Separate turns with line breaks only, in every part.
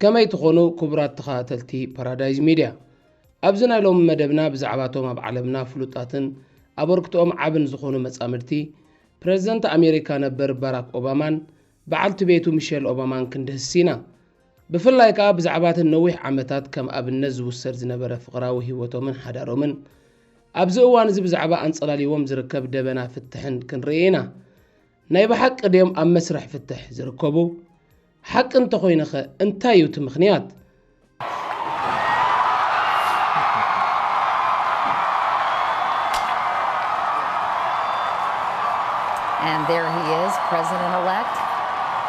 ከመይ ትኾኑ ክቡራት ተኸታተልቲ ፓራዳይዝ ሚድያ ኣብዚ ናይ ሎሚ መደብና ብዛዕባቶም ኣብ ዓለምና ፍሉጣትን ኣበርክትኦም ዓብን ዝኾኑ መጻምድቲ ፕረዚደንት ኣሜሪካ ነበር ባራክ ኦባማን በዓልቲ ቤቱ ሚሸል ኦባማን ክንድህስ ኢና ብፍላይ ከኣ ብዛዕባ እቲ ነዊሕ ዓመታት ከም ኣብነት ዝውሰድ ዝነበረ ፍቕራዊ ህይወቶምን ሓዳሮምን ኣብዚ እዋን እዚ ብዛዕባ ኣንጸላልይዎም ዝርከብ ደበና ፍትሕን ክንርኢ ኢና። ናይ ብሓቂ ድዮም ኣብ መስርሕ ፍትሕ ዝርከቡ? ሓቂ እንተኾይነኸ እንታይ እዩ እቲ ምኽንያት?
And there he is, president-elect.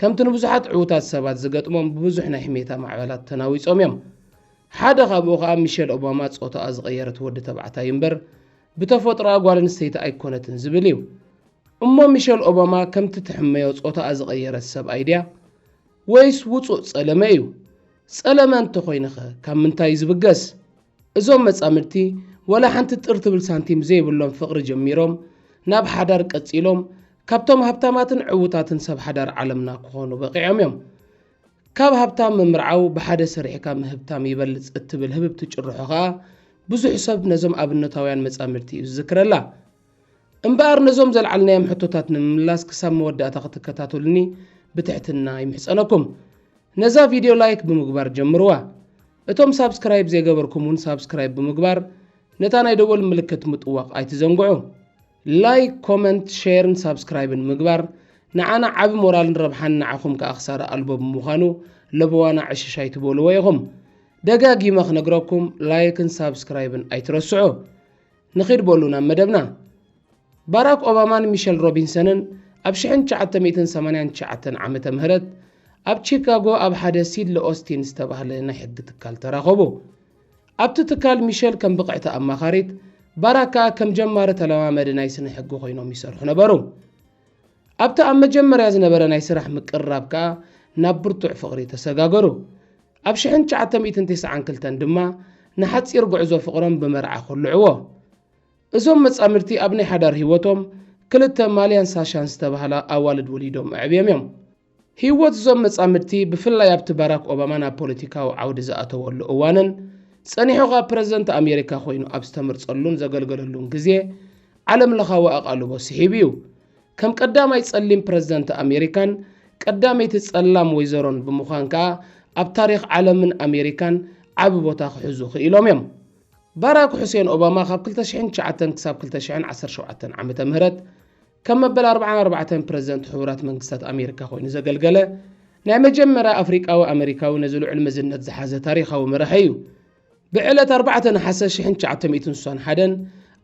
ከምቲ ንብዙሓት ዕዉታት ሰባት ዝገጥሞም ብብዙሕ ናይ ሕሜታ ማዕበላት ተናዊጾም እዮም። ሓደ ካብኡ ከኣ ሚሸል ኦባማ ጾታኣ ዝቐየረት ወዲ ተባዕታይ እምበር ብተፈጥሮኣ ጓል ኣንስተይቲ ኣይኮነትን ዝብል እዩ። እሞ ሚሸል ኦባማ ከምቲ ትሕመዮ ጾታኣ ዝቐየረት ሰብኣይ ድያ? ወይስ ውጹእ ጸለመ እዩ? ጸለመ እንተኾይኑኸ ካብ ምንታይ እዩ ዝብገስ? እዞም መጻምድቲ ወላ ሓንቲ ጥር ትብል ሳንቲም ዘይብሎም ፍቕሪ ጀሚሮም ናብ ሓዳር ቀጺሎም ካብቶም ሃብታማትን ዕዉታትን ሰብ ሓዳር ዓለምና ክኾኑ በቒዖም እዮም። ካብ ሃብታም ምምርዓው ብሓደ ሰሪሕካ ምህብታም ይበልጽ እትብል ህብብቲ ጭርሖ ከኣ ብዙሕ ሰብ ነዞም ኣብነታውያን መጻምድቲ እዩ ዝዝክረላ። እምበኣር ነዞም ዘልዓልናዮም ሕቶታት ንምምላስ ክሳብ መወዳእታ ክትከታተሉኒ ብትሕትና ይምሕጸነኩም። ነዛ ቪድዮ ላይክ ብምግባር ጀምርዋ። እቶም ሳብስክራይብ ዘይገበርኩም እውን ሳብስክራይብ ብምግባር ነታ ናይ ደወል ምልክት ምጥዋቕ ኣይትዘንግዑ። ላይክ ኮመንት ሸርን ሳብስክራይብን ምግባር ንዓና ዓቢ ሞራልን ረብሓን ንዓኹም ከኣ ክሳራ ኣልቦ ብምዃኑ ለበዋና ዕሽሽ ኣይትበልዎ ኢኹም ደጋጊመ ክነግረኩም ላይክን ሳብስክራይብን ኣይትረስዑ ንኺድ በሉ ናብ መደብና ባራክ ኦባማን ሚሸል ሮቢንሰንን ኣብ 1989 ዓመተ ምህረት ኣብ ቺካጎ ኣብ ሓደ ሲድሊ ኦስቲን ዝተባህለ ናይ ሕጊ ትካል ተራኸቡ ኣብቲ ትካል ሚሸል ከም ብቕዕቲ ኣማኻሪት፣ ባራክ ከኣ ከም ጀማሪ ተለማማዲ ናይ ስነ-ሕጊ ኮይኖም ይሰርሑ ነበሩ። ኣብቲ ኣብ መጀመርያ ዝነበረ ናይ ስራሕ ምቅርራብ ከኣ ናብ ብርቱዕ ፍቕሪ ተሰጋገሩ። ኣብ ሽሕን ትሽዓተ ሚእትን ቴስዓን ክልተን ድማ ንሓጺር ጉዕዞ ፍቕሮም ብመርዓ ኮልዕዎ። እዞም መጻምድቲ ኣብ ናይ ሓዳር ህይወቶም ክልተ ማልያን ሳሻን ዝተባህላ ኣዋልድ ወሊዶም ኣዕብዮም እዮም። ህይወት እዞም መጻምድቲ ብፍላይ ኣብቲ ባራክ ኦባማ ናብ ፖለቲካዊ ዓውዲ ዝኣተወሉ እዋንን ጸኒሑ ኸኣ ፕረዚደንት ኣሜሪካ ኮይኑ ኣብ ዝተመርጸሉን ዘገልገለሉን ግዜ ዓለም ለኻዊ ኣቓልቦ ስሒቡ እዩ። ከም ቀዳማይ ጸሊም ፕረዚደንት ኣሜሪካን ቀዳመይቲ ጸላም ወይዘሮን ብምዃን ከኣ ኣብ ታሪኽ ዓለምን ኣሜሪካን ዓቢ ቦታ ክሕዙ ክኢሎም እዮም። ባራክ ሑሴን ኦባማ ካብ ክልተ ሽሕን ትሽዓተን ክሳብ ክልተ ሽሕን ዓሰርተ ሸውዓተን ዓመተ ምህረት ከም መበል ኣርብዓን ኣርባዕተን ፕረዚደንት ሕቡራት መንግስታት ኣሜሪካ ኮይኑ ዘገልገለ ናይ መጀመርያ ኣፍሪቃዊ ኣመሪካዊ ነዚ ልዑል መዝነት ዝሓዘ ታሪኻዊ መራሒ እዩ። ብዕለት ኣርባዕተ ነሓሰ ሽሕን ትሽዓተ ሚእትን ስሳን ሓደን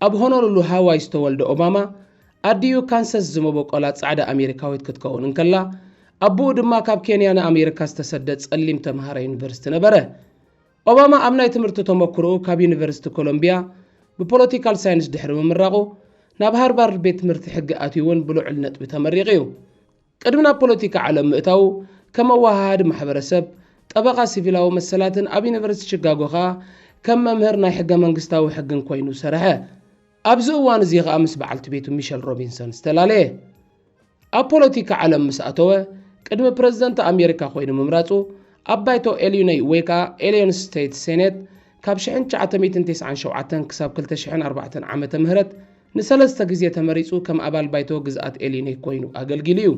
ኣብ ሆኖሉሉ ሃዋይ ዝተወልደ ኦባማ ኣዲኡ ካንሰስ ዝመበቆላ ጻዕዳ ኣሜሪካዊት ክትከውን እንከላ ኣቦኡ ድማ ካብ ኬንያ ንኣሜሪካ ዝተሰደ ጸሊም ተምሃራይ ዩኒቨርሲቲ ነበረ። ኦባማ ኣብ ናይ ትምህርቲ ተመክሮኡ ካብ ዩኒቨርሲቲ ኮሎምቢያ ብፖለቲካል ሳይንስ ድሕሪ ምምራቑ፣ ናብ ሃርቫርድ ቤት ትምህርቲ ሕጊ ኣትዩ'ውን ብልዑል ነጥቢ ተመሪቑ'ዩ። ቅድሚ ናብ ፖለቲካ ዓለም ምእታዉ፣ ከም ኣወሃሃዲ ማሕበረሰብ፣ ጠበቓ ሲቪላዊ መሰላትን ኣብ ዩኒቨርሲቲ ቺጋጎ ከኣ ከም መምህር ናይ ሕገ-መንግስታዊ ሕግን ኮይኑ ሰርሐ። ኣብዚ እዋን'ዚ ከኣ ምስ በዓልቲ ቤቱ ሚሸል ሮቢንሰን ዝተላለየ። ኣብ ፖለቲካ ዓለም ምስ ኣተወ፣ ቅድሚ ፕረዚደንት ኣሜሪካ ኮይኑ ምምራጹ፣ ኣብ ባይቶ ኤልዩነይ ወይ ከኣ ኤልዮን ስተይት ሴኔት ካብ ሽሕን ትሽዓተ ሚእትን ቴስዓን ሸውዓተን ክሳብ ክልተ ሽሕን ኣርባዕተን ዓመተ ምህረት ንሰለስተ ግዜ ተመሪጹ ከም ኣባል ባይቶ ግዝኣት ኤልዩነይ ኮይኑ ኣገልጊሉ እዩ።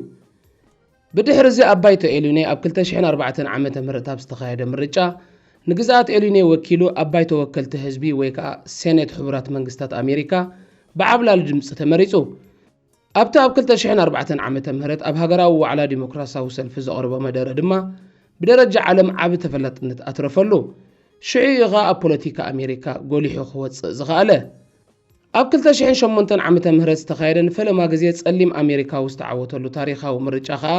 ብድሕርዚ ኣብ ባይቶ ኤልዩነይ ኣብ ክልተ ሽሕን ኣርባዕተን ዓመተ ምህረት ኣብ ዝተኻየደ ምርጫ ንግዝኣት ኤልዩነይ ወኪሉ ኣብ ባይቶ ወከልቲ ህዝቢ ወይ ከኣ ሴኔት ሕቡራት መንግስታት ኣሜሪካ ብዓብላሊ ድምጺ ተመሪጹ። ኣብቲ ኣብ ክልተ ሽሕን ኣርባዕተን ዓመተ ምህረት ኣብ ሃገራዊ ዋዕላ ዲሞክራስያዊ ሰልፊ ዘቕርቦ መደረ ድማ ብደረጃ ዓለም ዓቢ ተፈላጥነት ኣትረፈሉ። ሽዑ እዩ ኸኣ ኣብ ፖለቲካ ኣሜሪካ ጎሊሑ ክወጽእ ዝኸኣለ። ኣብ ክልተ ሽሕን ሸሞንተን ዓመተ ምህረት ዝተኻየደ ንፈለማ ግዜ ጸሊም ኣሜሪካዊ ዝተዓወተሉ ታሪኻዊ ምርጫ ኸኣ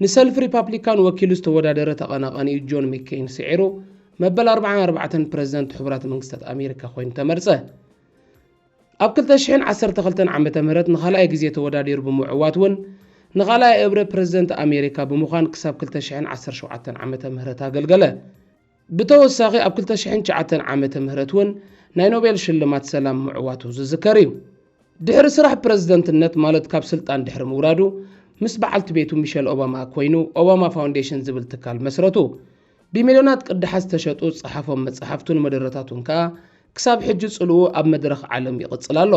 ንሰልፊ ሪፓፕሊካን ወኪሉ ዝተወዳደረ ተቐናቓኒኡ ጆን መከይን ስዒሩ መበል ኣርብዓን ኣርባዕተን ፕረዚደንት ሕቡራት መንግስታት ኣሜሪካ ኮይኑ ተመርጸ። ኣብ ክልተ ሽሕን ዓሰርተ ክልተን ዓመተ ምህረት ንኻልኣይ ግዜ ተወዳዲሩ ብምዕዋት እውን ንኻልኣይ እብረ ፕረዚደንት ኣሜሪካ ብምዃን ክሳብ ክልተ ሽሕን ዓሰርተ ሸውዓተን ዓመተ ምህረት ኣገልገለ። ብተወሳኺ ኣብ ክልተ ሽሕን ትሽዓተን ዓመተ ምህረት እውን ናይ ኖቤል ሽልማት ሰላም ምዕዋቱ ዝዝከር እዩ። ድሕሪ ስራሕ ፕረዚደንትነት ማለት ካብ ስልጣን ድሕሪ ምውራዱ ምስ በዓልቲ ቤቱ ሚሸል ኦባማ ኮይኑ ኦባማ ፋውንዴሽን ዝብል ትካል መስረቱ። ብሚልዮናት ቅዳሓት ዝተሸጡ ዝጸሓፎም መጻሕፍቱን መደረታቱን ከኣ ክሳብ ሕጂ ጽልኡ ኣብ መድረኽ ዓለም ይቕጽል ኣሎ።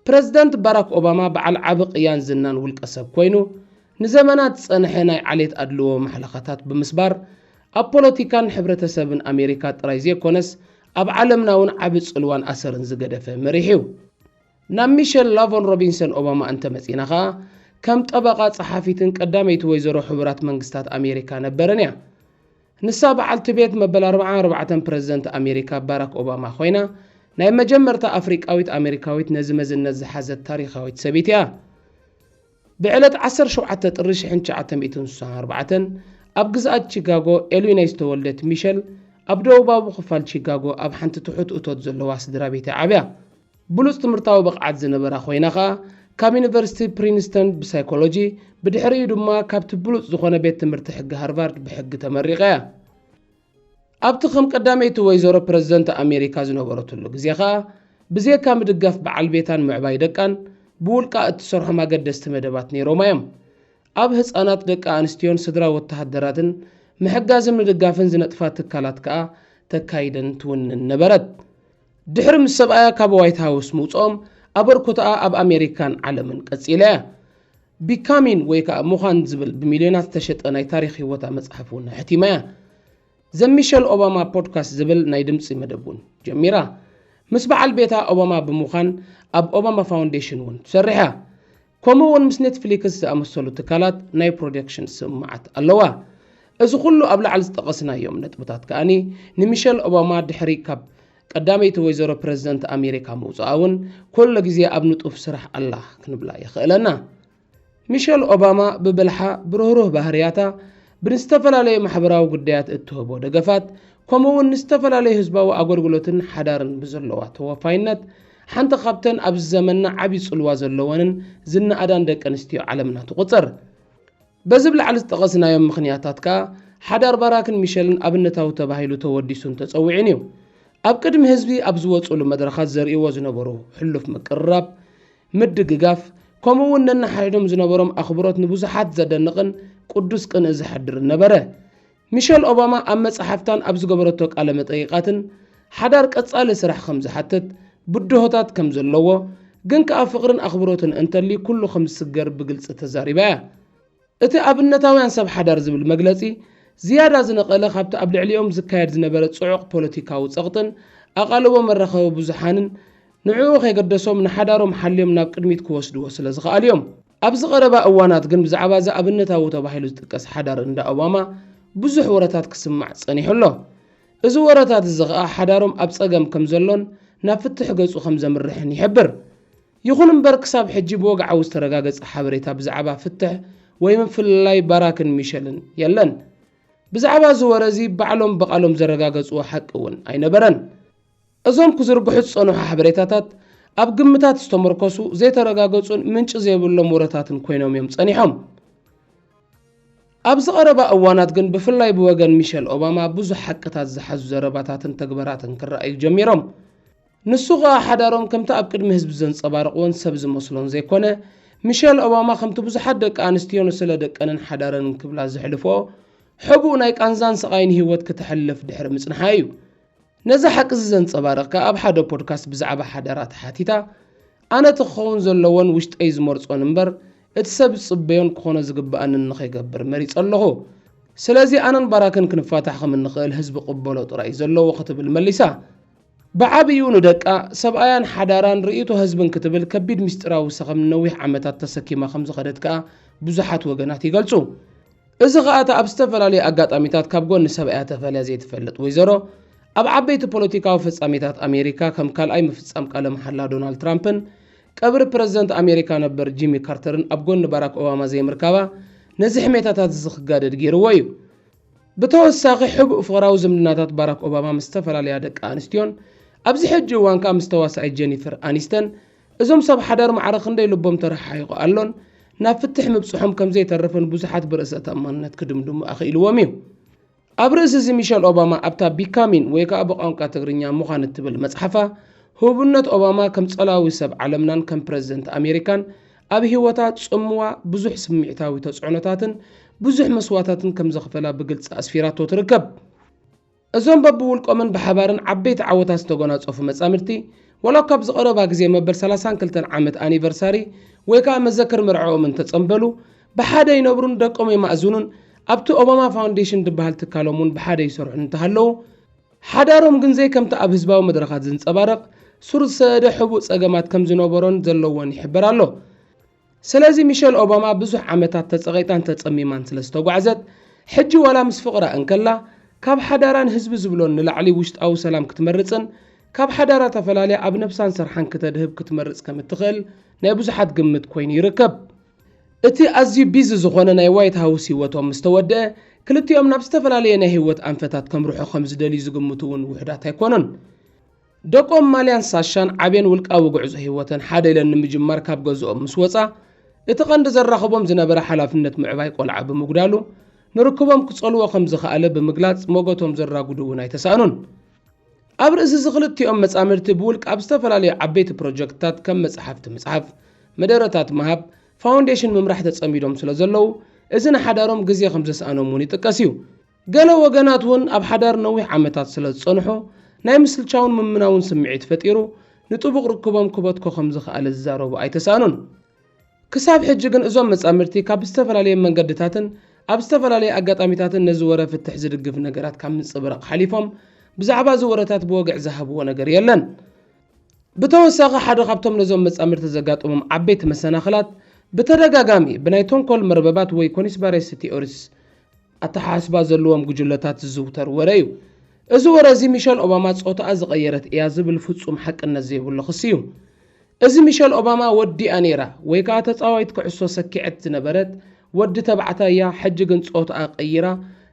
ፕረዚደንት ባራክ ኦባማ በዓል ዓቢ ቅያን ዝናን ውልቀሰብ ኮይኑ፣ ንዘመናት ዝጸንሐ ናይ ዓሌት ኣድልዎ ማሕለኻታት ብምስባር፣ ኣብ ፖለቲካን ሕብረተሰብን ኣሜሪካ ጥራይ ዘይኮነስ ኣብ ዓለምና'ውን ዓቢ ጽልዋን ኣሰርን ዝገደፈ መሪሕ'ዩ። ናብ ሚሸል ላቮን ሮቢንሰን ኦባማ እንተ መጺእና ከኣ፣ ከም ጠበቓ ጸሓፊትን ቀዳመይቲ ወይዘሮ ሕቡራት መንግስታት ኣሜሪካ ነበረን እያ። ንሳ በዓልቲ ቤት መበል ኣርብዓ ኣርባዕተን ፕረዚደንት ኣሜሪካ ባራክ ኦባማ ኮይና፣ ናይ መጀመርታ ኣፍሪቃዊት ኣሜሪካዊት ነዚ መዝነት ዝሓዘት ታሪኻዊት ሰብይቲ እያ። ብዕለት ዓሰርተ ሸውዓተ ጥሪ ሽሕን ትሽዓተ ሚእትን ስሳን ኣርባዕተን ኣብ ግዝኣት ቺካጎ ኤሉይናይ ዝተወልደት ሚሸል፣ ኣብ ደቡባዊ ክፋል ቺካጎ ኣብ ሓንቲ ትሑት እቶት ዘለዋ ስድራቤት'ያ ዓብያ። ብሉጽ ትምህርታዊ ብቕዓት ዝነበራ ኮይና ከኣ ካብ ዩኒቨርሲቲ ፕሪንስተን ብሳይኮሎጂ፣ ብድሕሪኡ ድማ ካብቲ ብሉጽ ዝኾነ ቤት ትምህርቲ ሕጊ ሃርቫርድ ብሕጊ ተመሪቓ'ያ። ኣብቲ ከም ቀዳመይቲ ወይዘሮ ፕረዚደንት ኣሜሪካ ዝነበረትሉ ግዜ ከኣ ብዜካ ምድጋፍ በዓል ቤታን ምዕባይ ደቃን ብውልቃ እትሰርሖም ኣገደስቲ መደባት ነይሮማ እዮም። ኣብ ህጻናት ደቂ ኣንስትዮን ስድራ ወተሃደራትን ምሕጋዝን ምድጋፍን ዝነጥፋ ትካላት ከኣ ተካይድን ትውንን ነበረት። ድሕሪ ምስ ሰብኣያ ካብ ዋይት ሃውስ ምውጽኦም ኣበርኩቶኣ ኣብ ኣሜሪካን ዓለምን ቀጺላ እያ። ቢካሚን ወይ ከኣ ምዃን ዝብል ብሚልዮናት ዝተሸጠ ናይ ታሪኽ ህይወታ መጽሓፍ እውን ኣሕቲማ እያ። ዘ ሚሸል ኦባማ ፖድካስት ዝብል ናይ ድምጺ መደብ እውን ጀሚራ። ምስ በዓል ቤታ ኦባማ ብምዃን ኣብ ኦባማ ፋውንዴሽን እውን ትሰርሕ እያ። ከምኡ እውን ምስ ኔትፍሊክስ ዝኣመሰሉ ትካላት ናይ ፕሮደክሽን ስምምዓት ኣለዋ። እዚ ኩሉ ኣብ ላዕሊ ዝጠቐስናዮም ነጥብታት ከኣ ንሚሸል ኦባማ ድሕሪ ካብ ቀዳመይቲ ወይዘሮ ፕረዚደንት ኣሜሪካ ምውጽኣ እውን ኩሉ ግዜ ኣብ ንጡፍ ስራሕ ኣላ ክንብላ የኽእለና። ሚሸል ኦባማ ብብልሓ፣ ብርህሩህ ባህርያታ፣ ብንዝተፈላለዩ ማሕበራዊ ጉዳያት እትህቦ ደገፋት፣ ከምኡ እውን ንዝተፈላለዩ ህዝባዊ ኣገልግሎትን ሓዳርን ብዘለዋ ተወፋይነት ሓንቲ ካብተን ኣብዚ ዘመንና ዓብዪ ጽልዋ ዘለወንን ዝነኣዳን ደቂ ኣንስትዮ ዓለምና ትቑጸር። በዚ ብ ላዕሊ ዝጠቐስናዮም ምኽንያታት ከኣ ሓዳር ባራክን ሚሸልን ኣብነታዊ ተባሂሉ ተወዲሱን ተጸዊዑን እዩ። ኣብ ቅድሚ ህዝቢ ኣብ ዝወጽእሉ መድረኻት ዘርእይዎ ዝነበሩ ሕሉፍ ምቅርራብ፣ ምድግጋፍ፣ ከምኡ እውን ነንሓሕዶም ዝነበሮም ኣኽብሮት ንብዙሓት ዘደንቕን ቅዱስ ቅንኢ ዘሕድርን ነበረ። ሚሸል ኦባማ ኣብ መጽሓፍታን ኣብ ዝገበረቶ ቃለ መጠይቓትን ሓዳር ቀጻሊ ስራሕ ከም ዝሓትት፣ ብድሆታት ከም ዘለዎ፣ ግን ከኣ ፍቕርን ኣኽብሮትን እንተልዩ ኩሉ ከም ዝስገር ብግልጺ ተዛሪባ እያ። እቲ ኣብነታውያን ሰብ ሓዳር ዝብል መግለጺ ዝያዳ ዝነቐለ ካብቲ ኣብ ልዕሊኦም ዝካየድ ዝነበረ ጽዑቕ ፖለቲካዊ ጸቕጥን ኣቓልቦ መራኸቢ ብዙሓንን ንዕኡ ከይገደሶም ንሓዳሮም ሓልዮም ናብ ቅድሚት ክወስድዎ ስለ ዝኸኣሉ'ዮም። ኣብዚ ቀረባ እዋናት ግን ብዛዕባ እዚ ኣብነታዊ ተባሂሉ ዝጥቀስ ሓዳር እንዳ ኦባማ ብዙሕ ወረታት ክስማዕ ጸኒሑ ኣሎ። እዚ ወረታት እዚ ከኣ ሓዳሮም ኣብ ጸገም ከም ዘሎን ናብ ፍትሕ ገጹ ከም ዘምርሕን ይሕብር። ይኹን እምበር ክሳብ ሕጂ ብወግዓዊ ዝተረጋገጸ ሓበሬታ ብዛዕባ ፍትሕ ወይ ምፍልላይ ባራክን ሚሸልን የለን። ብዛዕባ እዚ ወረ እዚ ባዕሎም ብቓሎም ዘረጋገጽዎ ሓቂ እውን ኣይነበረን። እዞም ክዝርግሑ ዝጸንሑ ሓበሬታታት ኣብ ግምታት ዝተመርኮሱ ዘይተረጋገጹን ምንጪ ዘይብሎም ወረታትን ኮይኖም እዮም ጸኒሖም። ኣብዚ ቀረባ እዋናት ግን ብፍላይ ብወገን ሚሸል ኦባማ ብዙሕ ሓቅታት ዝሓዙ ዘረባታትን ተግባራትን ክረኣዩ ጀሚሮም። ንሱ ከኣ ሓዳሮም ከምቲ ኣብ ቅድሚ ህዝቢ ዘንጸባርቕዎን ሰብ ዝመስሎን ዘይኮነ፣ ሚሸል ኦባማ ከምቲ ብዙሓት ደቂ ኣንስትዮ ንስለ ደቀንን ሓዳረንን ክብላ ዘሕልፍኦ ሕቡእ ናይ ቃንዛን ስቓይን ህይወት ክተሕልፍ ድሕሪ ምጽንሓ እዩ። ነዚ ሓቂዚ ዘንጸባርቕ ከኣ ኣብ ሓደ ፖድካስት ብዛዕባ ሓደራ ተሓቲታ፣ ኣነ እቲ ክኸውን ዘለዎን ውሽጠይ ዝመርጾን እምበር እቲ ሰብ ዝጽበዮን ክኾኖ ዝግበኣንን ንኸይገብር መሪጸ ኣለኹ። ስለዚ ኣነን ባራክን ክንፋታሕ ከም እንኽእል ህዝቢ ክቕበሎ ጥራይ'ዩ ዘለዎ ክትብል መሊሳ። ብዓቢኡ ንደቃ፣ ሰብኣያን ሓዳራን ርእይቶ ህዝብን ክትብል ከቢድ ምስጢራዊ ሰኸም ንነዊሕ ዓመታት ተሰኪማ ከም ዝኸደት ከኣ ብዙሓት ወገናት ይገልጹ። እዚ ኸኣ እታ ኣብ ዝተፈላለዩ ኣጋጣሚታት ካብ ጎኒ ሰብኣያ ተፈልያ ዘይትፈልጥ ወይዘሮ፣ ኣብ ዓበይቲ ፖለቲካዊ ፍጻሜታት ኣሜሪካ ከም ካልኣይ ምፍጻም ቃለ መሓላ ዶናልድ ትራምፕን ቀብሪ ፕረዚደንት ኣሜሪካ ነበር ጂሚ ካርተርን ኣብ ጎኒ ባራክ ኦባማ ዘይምርካባ ነዚ ሕሜታታት'ዚ ክጋደድ ገይርዎ እዩ። ብተወሳኺ ሕቡእ ፍቕራዊ ዝምድናታት ባራክ ኦባማ ምስ ዝተፈላለያ ደቂ ኣንስትዮን ኣብዚ ሕጂ እዋን ከኣ ምስ ተዋሳኢት ጀኒፈር ኣኒስተን እዞም ሰብ ሓዳር ማዕረ ክንደይ ልቦም ተረሓሒቑ ኣሎን ናብ ፍትሕ ምብጽሖም ከም ዘይተርፍን ብዙሓት ብርእሰ ተኣማንነት ክድምድሙ ኣኽኢልዎም እዩ። ኣብ ርእሲ እዚ ሚሸል ኦባማ ኣብታ ቢካሚን ወይ ከኣ ብቋንቋ ትግርኛ ምዃን እትብል መጽሓፋ ህቡብነት ኦባማ ከም ጸላዊ ሰብ ዓለምናን ከም ፕረዚደንት ኣሜሪካን ኣብ ህይወታ ጽምዋ ብዙሕ ስምዒታዊ ተጽዕኖታትን ብዙሕ መስዋታትን ከም ዘኽፈላ ብግልጺ ኣስፊራቶ ትርከብ። እዞም በብውልቆምን ብሓባርን ዓበይቲ ዓወታት ዝተጎናፀፉ መፃምድቲ ዋላ እኳ ኣብዚ ቐረባ ግዜ መበል ሰላሳን ክልተን ዓመት ኣኒቨርሳሪ ወይ ከዓ መዘክር መርዕኦም እንተፀምበሉ ብሓደ ይነብሩን ደቆም የማእዝኑን ኣብቲ ኦባማ ፋውንዴሽን ድበሃል ትካሎም እውን ብሓደ ይሰርሑን እንተሃለዉ ሓዳሮም ግን ዘይከምቲ ኣብ ህዝባዊ መድረኻት ዝንፀባረቕ ሱር ዝሰደደ ሕቡእ ፀገማት ከምዝነበሮን ዘለዎን ይሕበር ኣሎ። ስለዚ ሚሸል ኦባማ ብዙሕ ዓመታት ተጸቒጣን ተጸሚማን ስለ ዝተጓዕዘት፣ ሕጂ ዋላ ምስ ፍቕራ እንከላ፣ ካብ ሓዳራን ህዝቢ ዝብሎን ንላዕሊ ውሽጣዊ ሰላም ክትመርጽን፣ ካብ ሓዳራ ተፈላልያ ኣብ ነብሳን ስርሓን ክተድህብ ክትመርጽ ከም እትኽእል ናይ ብዙሓት ግምት ኮይኑ ይርከብ። እቲ ኣዝዩ ቢዚ ዝኾነ ናይ ዋይት ሃውስ ህይወቶም ምስ ተወድኣ፣ ክልቲኦም ናብ ዝተፈላለየ ናይ ህይወት ኣንፈታት ከምርሑ ከም ዝደልዩ ዝግምቱ እውን ውሑዳት ኣይኮኑን። ደቆም ማልያን ሳሻን ዓብየን ውልቃዊ ጉዕዞ ህይወተን ሓደ ኢለን ንምጅማር ካብ ገዝኦም ምስ ወፃ እቲ ቀንዲ ዘራኽቦም ዝነበረ ሓላፍነት ምዕባይ ቆልዓ ብምጉዳሉ ንርክቦም ክፀልዎ ከምዝኸኣለ ብምግላፅ ሞገቶም ዘራጉዱ እውን ኣይተሳእኑን። ኣብ ርእሲ እዚ ክልቲኦም መፃምድቲ ብውልቅ ኣብ ዝተፈላለዩ ዓበይቲ ፕሮጀክትታት ከም መፅሓፍቲ ምፅሓፍ፣ መደረታት ምሃብ፣ ፋውንዴሽን ምምራሕ ተፀሚዶም ስለዘለዉ እዚ ንሓዳሮም ግዜ ከምዘስኣኖም እውን ይጥቀስ እዩ። ገለ ወገናት እውን ኣብ ሓዳር ነዊሕ ዓመታት ስለ ዝጸንሑ፣ ናይ ምስልቻውን ምምናውን ስምዒት ፈጢሩ፣ ንጥቡቕ ርክቦም ክበትኮ ከም ዝኸኣለ ዝዛረቡ ኣይተሳእኑን። ክሳብ ሕጂ ግን እዞም መጻምድቲ ካብ ዝተፈላለየ መንገድታትን ኣብ ዝተፈላለየ ኣጋጣሚታትን ነዚ ወረ ፍትሕ ዝድግፍ ነገራት ካብ ምጽብራቕ ሓሊፎም ብዛዕባ እዚ ወረታት ብወግዒ ዝሃብዎ ነገር የለን። ብተወሳኺ ሓደ ካብቶም ነዞም መጻምድቲ ዘጋጠሞም ዓበይቲ መሰናኽላት ብተደጋጋሚ ብናይ ተንኮል መርበባት ወይ ኮኒስባሬሲ ቲኦሪስ ኣተሓሳስባ ዘለዎም ጉጅለታት ዝዝውተር ወረ እዩ። እዚ ወረ እዚ ሚሸል ኦባማ ጾታኣ ዝቐየረት እያ ዝብል ፍጹም ሓቅነት ዘይብሉ ክሲ እዩ። እዚ ሚሸል ኦባማ ወዲኣ ነይራ ወይ ከኣ ተጻዋይት ኩዕሶ ሰኪዐት ዝነበረት ወዲ ተባዕታይ እያ ሕጂ ግን ጾታኣ ቀይራ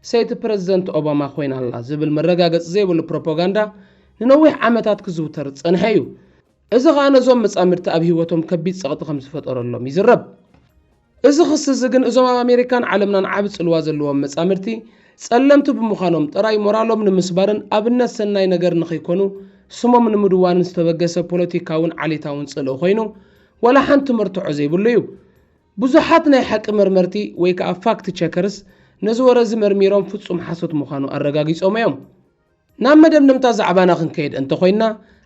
ሰይቲ ፕረዚደንት ኦባማ ኮይና ኣላ ዝብል መረጋገጺ ዘይብሉ ፕሮፖጋንዳ ንነዊሕ ዓመታት ክዝውተር ዝጸንሐ እዩ። እዚ ከኣ ነዞም መጻምድቲ ኣብ ህይወቶም ከቢድ ጸቕጢ ከም ዝፈጠረሎም ይዝረብ። እዚ ክሲ እዚ ግን እዞም ኣብ ኣሜሪካን ዓለምናን ዓቢ ጽልዋ ዘለዎም መጻምድቲ፣ ጸለምቲ ብምዃኖም ጥራይ ሞራሎም ንምስባርን ኣብነት ሰናይ ነገር ንኽይኮኑ ስሞም ንምድዋንን ዝተበገሰ ፖለቲካውን ዓሌታውን ጽልኢ ኮይኑ ዋላ ሓንቲ መርትዖ ዘይብሉ እዩ። ብዙሓት ናይ ሓቂ መርመርቲ ወይ ከኣ ፋክት ቸከርስ ነዚ ወረ እዚ መርሚሮም ፍጹም ሓሶት ምዃኑ ኣረጋጊጾሞ እዮም። ናብ መደምደምታ ዛዕባና ክንከይድ እንተ ኾይንና፣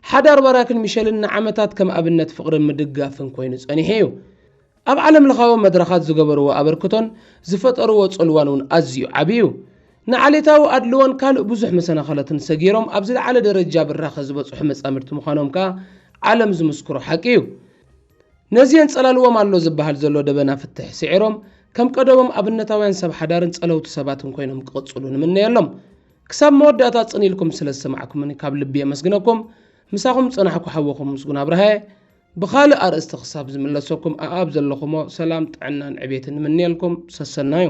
ሓዳር ባራክን ሚሸልን ንዓመታት ከም ኣብነት ፍቕርን ምድግጋፍን ኮይኑ ጸኒሑ እዩ። ኣብ ዓለምለኻዊ መድረኻት ዝገበርዎ ኣበርክቶን ዝፈጠርዎ ጽልዋን እውን ኣዝዩ ዓቢ እዩ። ንዓሌታዊ ኣድልዎን ካልእ ብዙሕ መሰናኸላትን ሰጊሮም ኣብ ዝለዓለ ደረጃ ብራኸ ዝበጽሑ መጻምድቲ ምዃኖም ከኣ ዓለም ዝምስክሮ ሓቂ እዩ። ነዚ የንጸላልዎም ኣሎ ዝበሃል ዘሎ ደበና ፍትሕ ስዒሮም ከም ቀደሞም ኣብነታውያን ሰብ ሓዳርን ጸለውቲ ሰባትን ኮይኖም ክቕጽሉ ንምነየሎም። ክሳብ መወዳእታ ጽን ኢልኩም ስለ ዝሰማዕኩምኒ ካብ ልቢ የመስግነኩም። ምሳኹም ዝጸናሕኩ ሓውኹም ምስጉን ኣብርሃየ። ብኻልእ ኣርእስቲ ክሳብ ዝምለሰኩም ኣኣብ ዘለኹሞ ሰላም ጥዕናን ዕቤትን ንምንየልኩም። ሰሰናዩ።